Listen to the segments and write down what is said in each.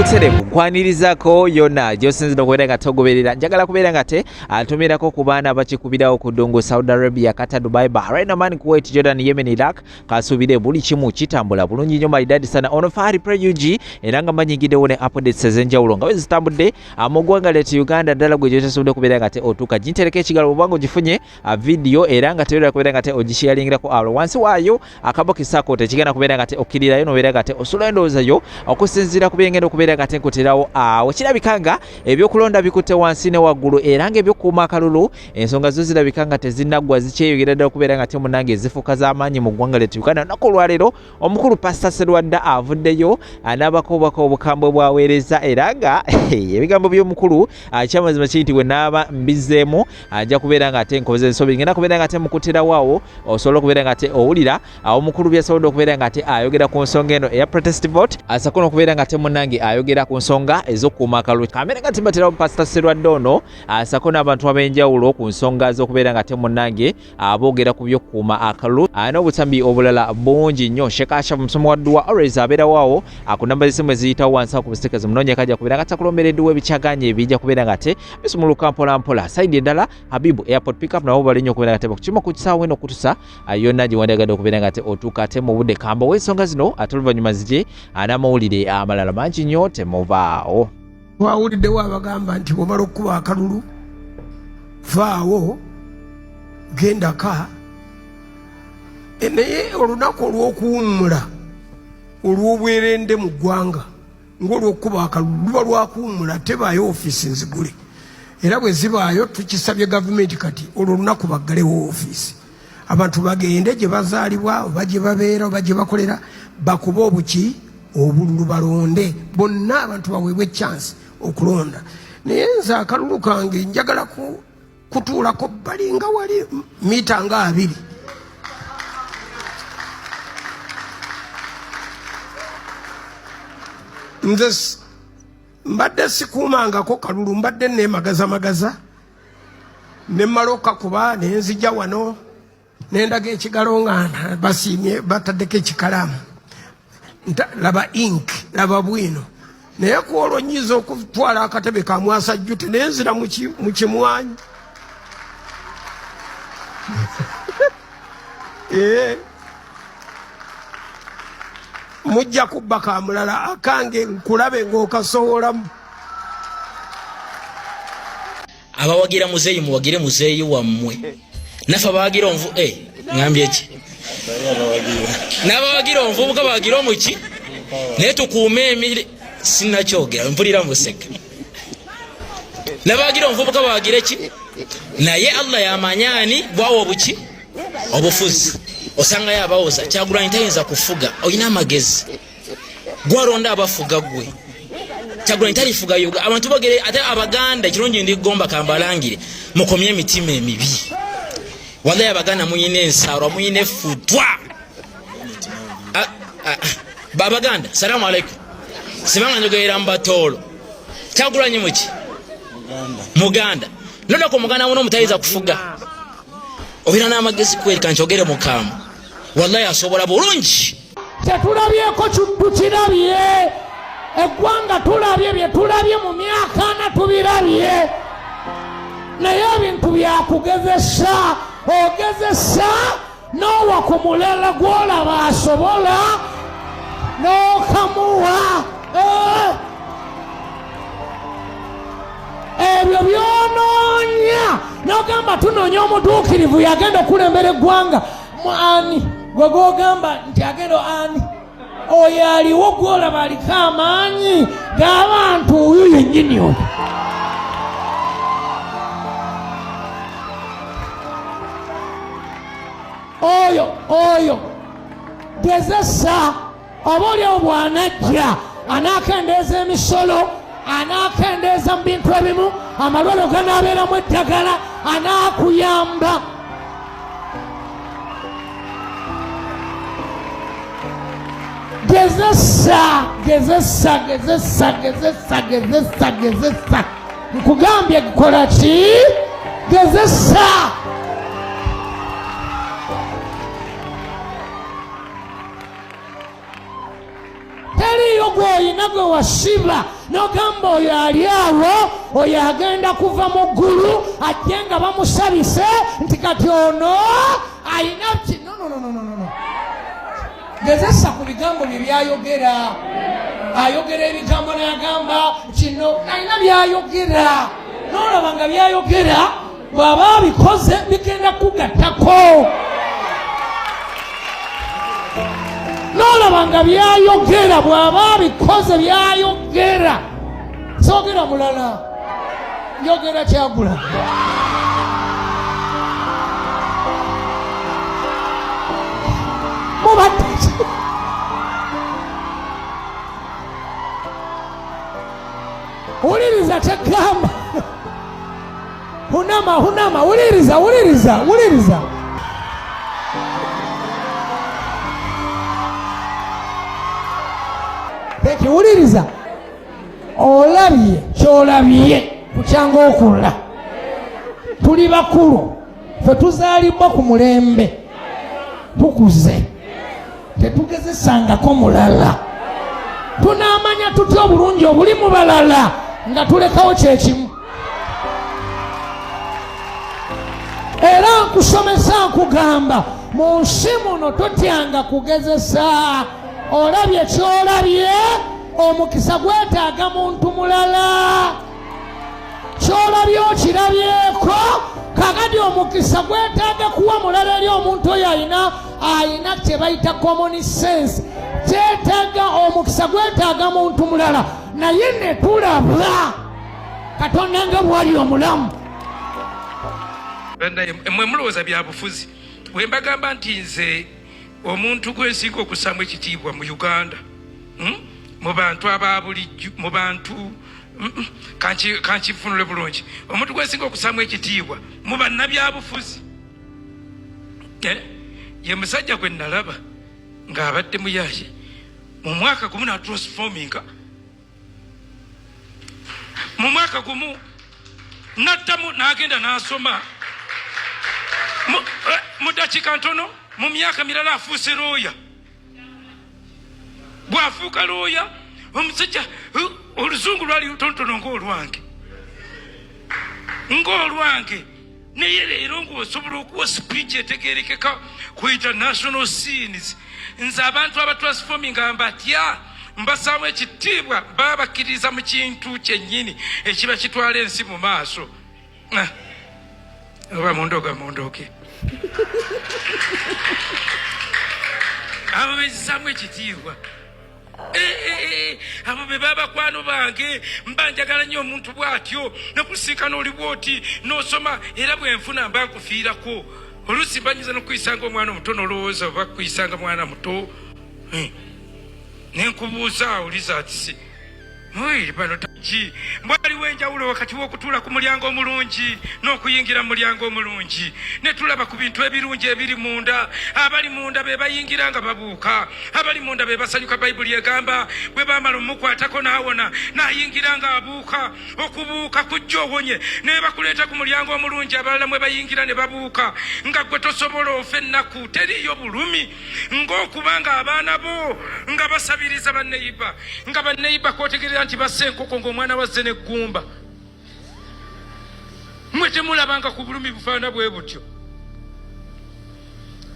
buterevu kwanirizako yona gyosinzira okubeera nga togoberera njagala kubeera nga te atumirako ku baana abakikubirawo ku ddungu saudi arabia kata dubai bahrain oman kuwait jordan yemen iraq kasuubire buli kimu kitambula bulungi nnyo maidadi sana ono fahari prug era nga manyigiddewo ne updates ezenjawulo nga bwe zitambudde Ah, mu ggwanga lyati uganda ddala gwe gyotasobodde okubeera nga te otuuka gintereka ekigalo bwobanga ogifunye ah, vidiyo era nga tebeera kubeera nga te ogishiyalingerako awo ah, wansi waayo akabo kisako tekigenda kubeera nga te okkirirayo nobeera nga te osula endowooza yo okusinziira ku byengenda okubeera nga te nkuterawo awo kirabika nga ebyokulonda bikutte wansi ne waggulu era nga ebyokuuma akalulu ensonga zo zirabika nga tezinaggwa zikyeyogera ddala okubeera nga te munange ezifuuka z'amaanyi mu ggwanga lyati uganda naku olwaleero omukulu pasita serwadda avuddeyo anaabako obubaka obukambwe bwaweereza era nga ebigambo by'omukulu akyamazima kiri nti wenaaba mbizeemu ajja kubeera nga ate nkoze ensobi ngenda kubeera nga ate mukutirawoawo osobola okubeera nga ate owulira awo omukulu byasobodde okubeera nga ate ayogera ku nsonga eno eya protest vote asako nokubeera nga ate munange ayogera ku nsonga ez'okukuuma akalulu kamera nga tibaterawo pasita serwadda ono asako n'abantu ab'enjawulo ku nsonga z'okubeera nga ate munange aboogera ku by'okukuuma akalulu ah, n'obutambi obulala bungi nnyo sheeka ashafu musomo wa dduwa always abeerawo awo ah, ku namba z'essimu eziyitawo wansi ku busiteeka zimunoonyeko ajja kubeera nga takulombera edduwa ebikyaganye ebijja kubeera nga te bisumuluka mpolampola sayidi endala habibu airport pickup nabo bali nnyo okubeera nga te bakukima ku kisaawo eno okutusa ah, yonna gye wandyagadde okubeera nga te otuuka ate mu budde kamba w'ensonga zino ate oluvannyuma zigye n'amawulire amalala mangi nnyo temuvaawo wawuliddewo abagamba nti bwomala okukuba akalulu vaawo gendaka e, naye olunaku olw'okuwummula olw'obwerende mu ggwanga ng'olw'okukuba akalulu luba lwakuwummula tebaayo ofiisi nzigule era bwe zibaayo tukisabye gavumenti kati olwo olunaku baggalewo ofiisi abantu bagende gye bazaalibwa oba gye babeera oba gye bakolera bakuba obuki obululu balonde bonna abantu baweebwa ekyansi okulonda naye nze akalulu kange njagala kutuulako bali nga wali mita nga abiri nze mbadde sikuumangako kalulu mbadde neemagazamagaza ne mmala okakuba ne nzija wano ne ndaga ekigalo nga basiimye bataddeko ekikalaamu laba ink laba bwino naye ku olwo nyinza okutwala akatebe ka mwasa jjute ne nzira mu kimwanyi eh. mujja kubba ka mulala akange nkulabe ng'okasowolamu abawagira muzeeyi muwagire muzeeyi wammwe nafe abawagira onvu e eh, ngambye ki n'abawagira onvubuka bawagira omuki naye tukuume emiri sinakyogera mpulira museka nabawagira omuvubuka bawagire ki naye allah yamanyaani bwawa obuki obufuzi osangayo abawoza kyagulanyi tayinza kufuga olina amagezi gwaronda abafuga gwe kyagulanyi talifuga yoga abantu bogere ate abaganda ekirungi ndi gomba kambalangire mukomye emitima emibi walayi abaganda muyina ensaalwa muyina efutwa babaganda salamu alaikum sibanga njogerera mubatoolo kyagulanyi muki muganda nodako muganda muno omutayinza kufuga obeera n'amagezi kwereka nkyogere mukaamu wallahi asobola bulungi kyetulabyeko tukirabye eggwanga tulabye bye tulabye mu myaka ana tubirabye naye ebintu byakugezesa ogezesa n'owa ku mulala gw'olaba asobola n'okamuwa eh. ebyo byonoonya n'ogamba tunoonya omutuukirivu yagenda okulembera eggwanga mu ani gwe gwogamba nti agenda ani oyo aliwo gwolaba aliko amaanyi g'abantu oyo yennyini oyo oyo oyo gezesa oba olyawo bwanajja anaakendeeza emisolo anaakendeeza mu bintu ebimu amalwaliro ganaabeeramu eddagala anaakuyamba gezesa gezesa gezesa gezesa gezesa gezesa nkugambye kukola ki gezesa teriiyo gw'olina gwe wasiba n'ogamba oyo ali awo oyo agenda kuva mu ggulu ajje nga bamusabise nti kati ono alina kino nonononono gezesa ku bigambo bye byayogera ayogera ebigambo nayagamba kino alina byayogera n'olaba nga byayogera bw'aba abikoze bigenda kugattako n'olaba nga byayogera bw'aba abikoze byayogera soogera mulala njogera kyagula mubadde wuliriza kyegamba Hunama, hunama, wuliriza, wuliriza, wuliriza. Thank you, wuliriza. Olabye kyolabye kukyanga okulla tuli bakulu fe tuzalibbwa ku mulembe tukuze tetugezesangako mulala tunaamanya tutya obulungi obuli mu balala nga tulekawo kyekimu era nkusomesa nkugamba mu nsi muno totyanga kugezesa olabye kyolabye omukisa gwetaaga muntu mulala kyolabye okirabyeko kakati omukisa gwetaaga kuwa mulala eri omuntu oyo ayina ayina kyebayita common sense kyetaaga omukisa gwetaaga muntu mulala naye netulaba katonda nga bwali omulamu mwe mulowooza byabufuzi bwe mbagamba nti nze omuntu gwensinga okusaamu ekitiibwa mu uganda hmm? mu bantu ababulijjo mu bantu kankifunule bulungi omuntu gwesinga okusaamu ekitiibwa mu bannabyabufuzi eh? ye musajja gwe nalaba ng'abadde muyaye mu mwaka gumu natransforminga mu mwaka gumu naddamu n'agenda n'asoma mu eh, dakiika ntono mu myaka mirala afuuse looya bwafuuka looya omusajja oluzungu lwali lutonotono ngaolwange ngaolwange naye leero ngaosobola okuwa speech etegerekeka ku international scenes nze abantu abatransforminga mbatya mbasaamu ekitiibwa babakkiririza mu kintu kyennyini ekiba kitwala ensi mu maaso Ah, oba mundoga mundoge abo bezisamu ekitiibwa eh, eh, eh, abo be babakwano bange mba njagala nnyo omuntu bw'atyo nokusiikana oli bwoti n'osoma era bwenfuna mba nkufiirako oluusi banyiza nokuyisanga omwana omuto nolowooza oba kuyisanga mwana muto eh. nenkubuuza awuliza atisi Ki mbwaliwo enjawulo wakati w'okutuula ku mulyango omulungi n'okuyingira mu mulyango omulungi ne tulaba ku bintu ebirungi ebiri munda abali munda be bayingira nga babuuka abali munda be basanyuka bayibuli egamba bwe baamala omukwatako n'awona n'ayingira nga abuuka okubuuka kujja owonye ne bakuleeta ku mulyango omulungi abalala mwe bayingira ne babuuka nga gwe tosobola ofa ennaku teriiyo bulumi ng'okuba ng'abaana bo nga basabiriza banneyiba nga banneyiba kwotegerera nti bassa enkoko ng'omwana wazze n'eggumba mwe temulabanga ku bulumi bufaana bwe butyo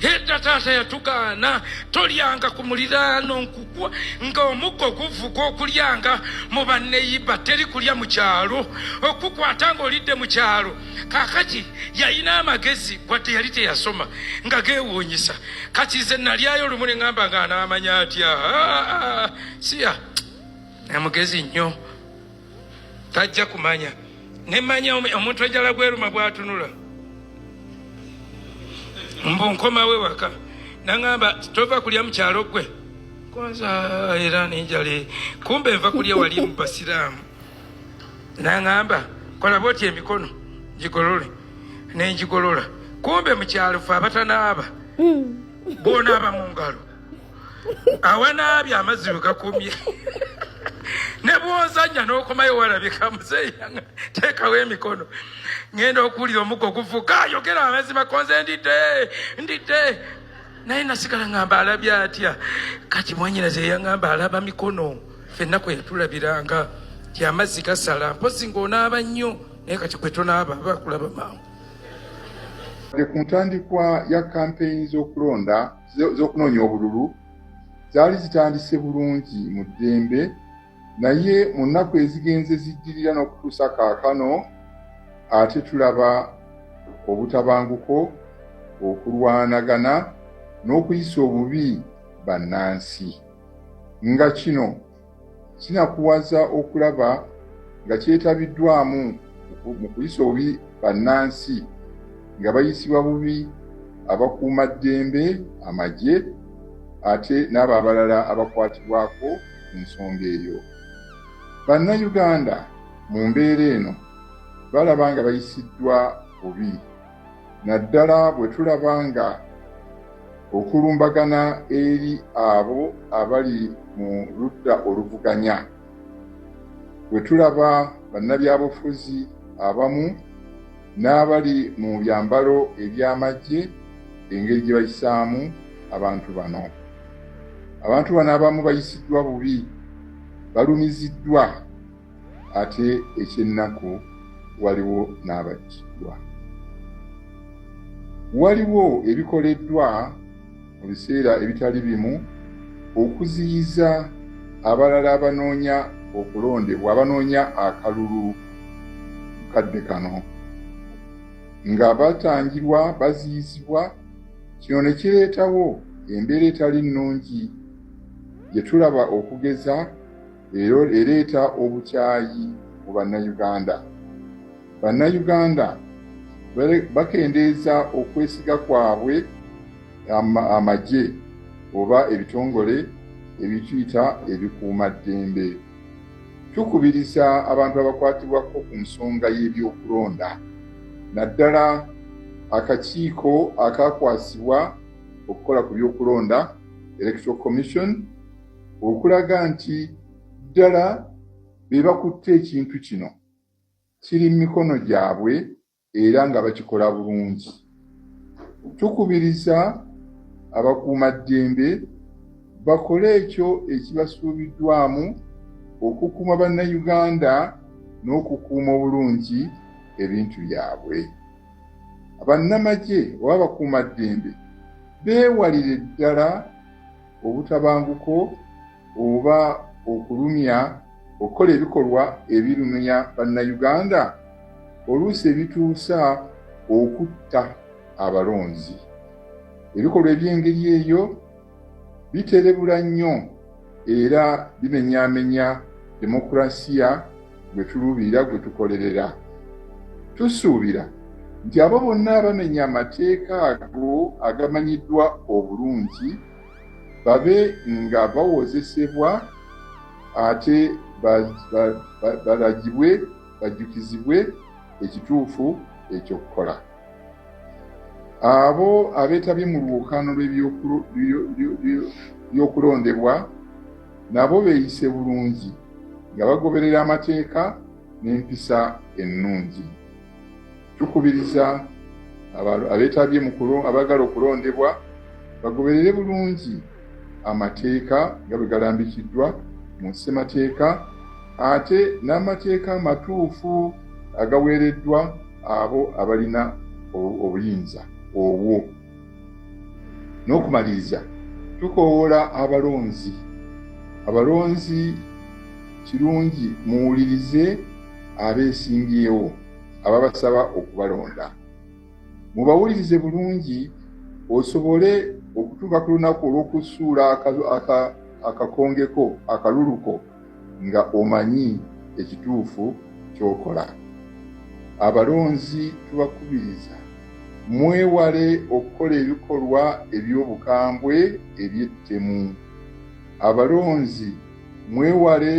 edda taata yatugaana tolyanga ku muliraano nkukwa ng'omuggo guvuga okulyanga mu banneyiba teri kulya mu kyalo okukwata ng'olidde mu kyalo kakati yalina amagezi wadde yali teyasoma nga gewuunyisa kati ze nalyayo olumu ne ŋamba nga anaamanya atya siya amugezi nnyo tajja kumanya ne manya omuntu ejala gweruma bwatunula mbu nkomawo ewaka naŋamba tova kulya mukyalo gwe kwanza era nenjale kumbe nva kulya wali mu basiraamu naŋamba kola bwoti emikono gigolole nengigolola kumbe mukyalo fe abatanaaba hmm. bonaaba mu ngalo awanaabye amazzi we gakumye ne bwozanya n'okomayo walabika muzeeyi teekawo emikono ŋenda okuwulira omuggo guvuka ayogera amazima konze ndidde ndidde naye nasigala ŋamba alabye atya kati mwanyina zeyaŋamba alaba mikono fenna kwe yatulabira nga gyamazzi gasala mpozi ng'onaaba nnyo naye kati kwe tonaaba bakulaba mangu ku ntandikwa ya kampeyini z'okulonda z'okunoonya obululu zaali zitandise bulungi mu ddembe naye mu nnaku ezigenze ziddirira n'okutuusa kaakano ate tulaba obutabanguko okulwanagana n'okuyisa obubi bannansi nga kino kinakuwaza okulaba nga kyetabiddwamu mu kuyisa obubi bannansi nga bayisibwa bubi abakuuma ddembe amagye ate n'abo abalala abakwatibwako ku nsonga eyo bannayuganda mu mbeera eno balaba nga bayisiddwa bubi naddala bwe tulaba nga okulumbagana eri abo abali mu ludda oluvuganya bwe tulaba bannabyabufuzi abamu n'abali mu byambalo eby'amagye engeri gye bayisaamu abantu bano abantu bano abamu bayisiddwa bubi balumiziddwa Ate eky'ennaku waliwo n'abattibwa. Waliwo ebikoleddwa mu biseera ebitali bimu okuziyiza abalala abanoonya okulondebwa abanoonya akalulu kadde kano nga batangirwa baziyizibwa kino ne kireetawo embeera etali nnungi gye tulaba okugeza era ereeta obukyayi mu Bannayuganda. Bannayuganda bakendeeza okwesiga kwabwe amagye oba ebitongole ebituyita ebikuuma ddembe. Tukubiriza abantu abakwatibwako ku nsonga y'ebyokulonda naddala akakiiko akakwasibwa okukola ku byokulonda Electoral Commission okulaga nti ddala be bakutte ekintu kino kiri mu mikono gyabwe era nga bakikola bulungi tukubiriza abakuuma ddembe bakole ekyo ekibasuubiddwamu okukuuma bannayuganda n'okukuuma obulungi ebintu byabwe abannamagye oba abakuuma ddembe beewalire ddala obutabanguko oba okulumya okukola ebikolwa ebirumya bannayuganda oluusi ebituusa okutta abalonzi ebikolwa eby'engeri eyo biterebula nnyo era bimenyamenya demokulasiya gwe tuluubirira gwe tukolerera tusuubira nti abo bonna abamenya amateeka ago agamanyiddwa obulungi babe nga bawozesebwa ate balagibwe bajjukizibwe ekituufu ekyokukola Abo abeetabye mu lwokaano lw'ebyokulondebwa nabo beeyise bulungi nga bagoberera amateeka n'empisa ennungi. Tukubiriza abeetabye mu abaagala okulondebwa bagoberere bulungi amateeka nga bwe galambikiddwa mu ssemateeka ate n'amateeka amatuufu agaweereddwa abo abalina obuyinza obwo n'okumaliriza tukowoola abalonzi abalonzi kirungi muwulirize abeesimbyewo ababasaba okubalonda mubawulirize bulungi osobole okutuuka ku lunaku olw'okusuula akakongeko akaluluko nga omanyi ekituufu kyokola abalonzi tubakubiriza mwewale okukola ebikolwa eby'obukambwe eby'ettemu abalonzi mwewale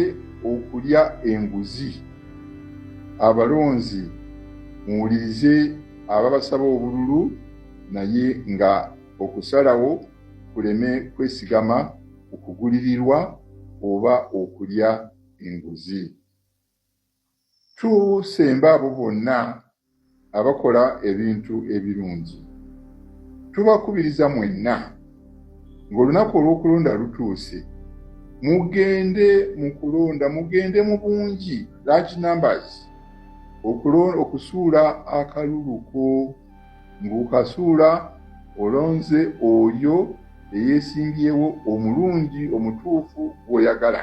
okulya enguzi abalonzi muwulirize ababasaba obululu naye nga okusalawo kuleme kwesigama okugulirirwa oba okulya enguzi. Tusemba abo bonna abakola ebintu ebirungi. Tubakubiriza mwenna ng'olunaku olw'okulonda lutuuse mugende mu kulonda mugende mu bungi large numbers okusuula akaluluko ng'okasuula olonze oyo eyeesimbyewo omulungi omutuufu gw'oyagala.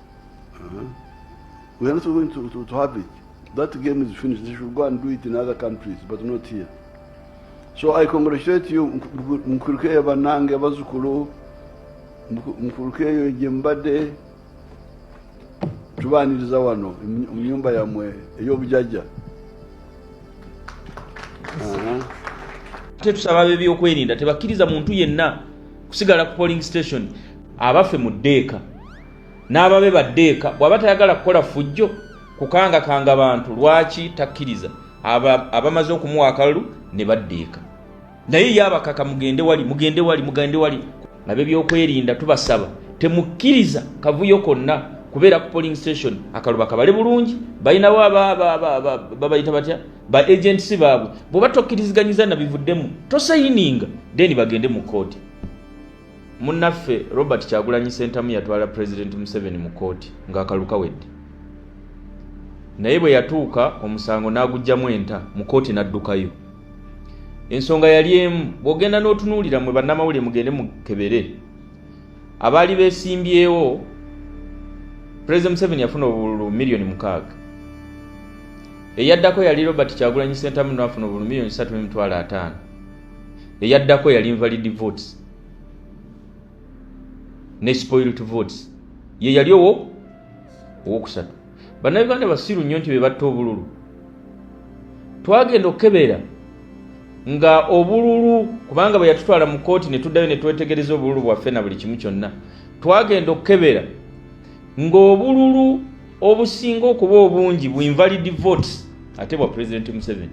Uh-huh. We are not going to, to, to have it. That game is finished. They should go and do it in other countries, but not here. So I congratulate you, Mkurukeya Banange, Bazukulu, Mkurukeya Jembade, tubaaniriza wano mu nyumba yammwe ey'obujajja ate tusaba bebyokwerinda tebakkiriza muntu yenna kusigala ku polling station abaffe mu ddeeka n'ababe badde eka bw'aba tayagala kukola ffujjo kukangakanga bantu lwaki takkiriza abamaze okumuwa akalulu ne badda eka naye ye abakaka mugende wali mugende wali mugende wali abebyokwerinda tubasaba temukkiriza kavuyo konna kubeera ku polling station akaluba kabale bulungi balinawo babayita batya ba agents baabwe bwebattokiriziganyiza nabivudemu tosayininga then bagende mu kooti Munnaffe Robert Kyagulanyi Ssentamu yatwala Pulezidenti Museveni mu kkooti ng'akalulu kawedde. Naye bwe yatuuka omusango n'aguggyamu enta mu kkooti n'addukayo. Ensonga yali emu, bw'ogenda n'otunuulira mwe bannamawulire mugende mukebere. Abaali beesimbyewo, Pulezidenti Museveni yafuna obululu miliyoni mukaaga. Eyaddako yali Robert Kyagulanyi Ssentamu n'afuna obululu miliyoni ssatu n'emitwalo ataano. eyaddako yali invalid votes ne spoilt votes ye yali owo owokusatu bannayuganda basiru nnyo nti be batta obululu twagenda okukebeera nga obululu kubanga bwe yatutwala mu kooti ne tuddayo ne twetegereza obululu bwaffe na buli kimu kyonna twagenda okukebeera ng'obululu obusinga okuba obungi bu invalid votes ate bwa president museveni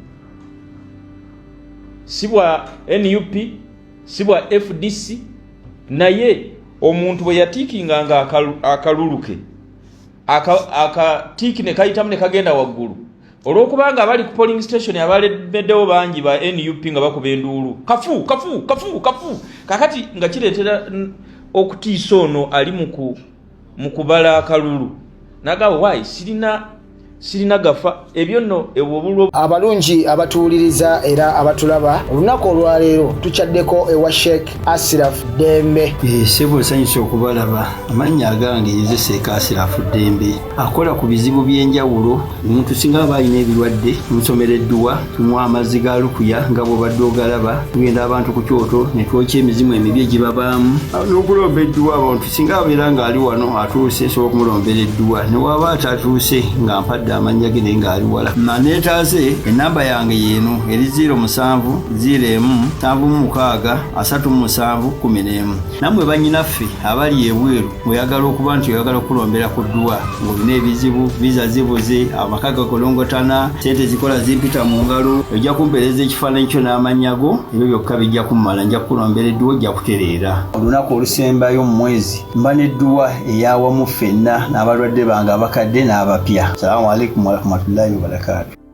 si bwa nup si bwa fdc naye omuntu bwe yatiikinga nga akalulu ke akatiiki ne kayitamu ne kagenda waggulu olwokubanga abali ku polling station abalemeddewo bangi ba nup nga bakuba enduulu kafu kafu kafu kafu kakati nga kireetera okutiisa ono ali muku mu kubala akalulu naga why sirina sirina gafa ebyo nno ewobulwo abalungi abatuwuliriza era abatulaba olunaku olwaleero tukyaddeko ewa sheik asiraf dembe eh, sebo nsanyusa okubalaba amannya agange yeze sheik asiraf dembe akola ku bizibu by'enjawulo omuntu singa aba alina ebirwadde nsomera edduwa tumwa amazzi ga lukuya nga bwobadde ogalaba tugenda abantu ku kyoto ne twokya emizimu emibi egibabaamu n'okulomba edduwa abantu singa abeera ng'ali wano atuuse sobola okumulombera edduwa ne waaba atatuuse nga mpadde amannya ge naye ng'ali wala maneetaaze ennamba yange yeeno eri 0 musanvu 0 emu nsanvu mu mukaaga asatu mu musanvu kumi n'emu nammwe bannyinaffe abali ebweru oyagala okuba nti oyagala okukulombera ku dduwa ng'olina ebizibu viza zibuze amaka gakolongotana sente zikola zimpita mu ngalo ojja kumpeereza ekifaananyi kyo n'amannya go ebyo byokka bijja kummala nja kukulombera edduwa ojja kutereera olunaku olusembayo mu mwezi mba n'edduwa eyawamu ffenna n'abalwadde bange abakadde n'abapya salamu alaikum warahmatullahi wabarakatu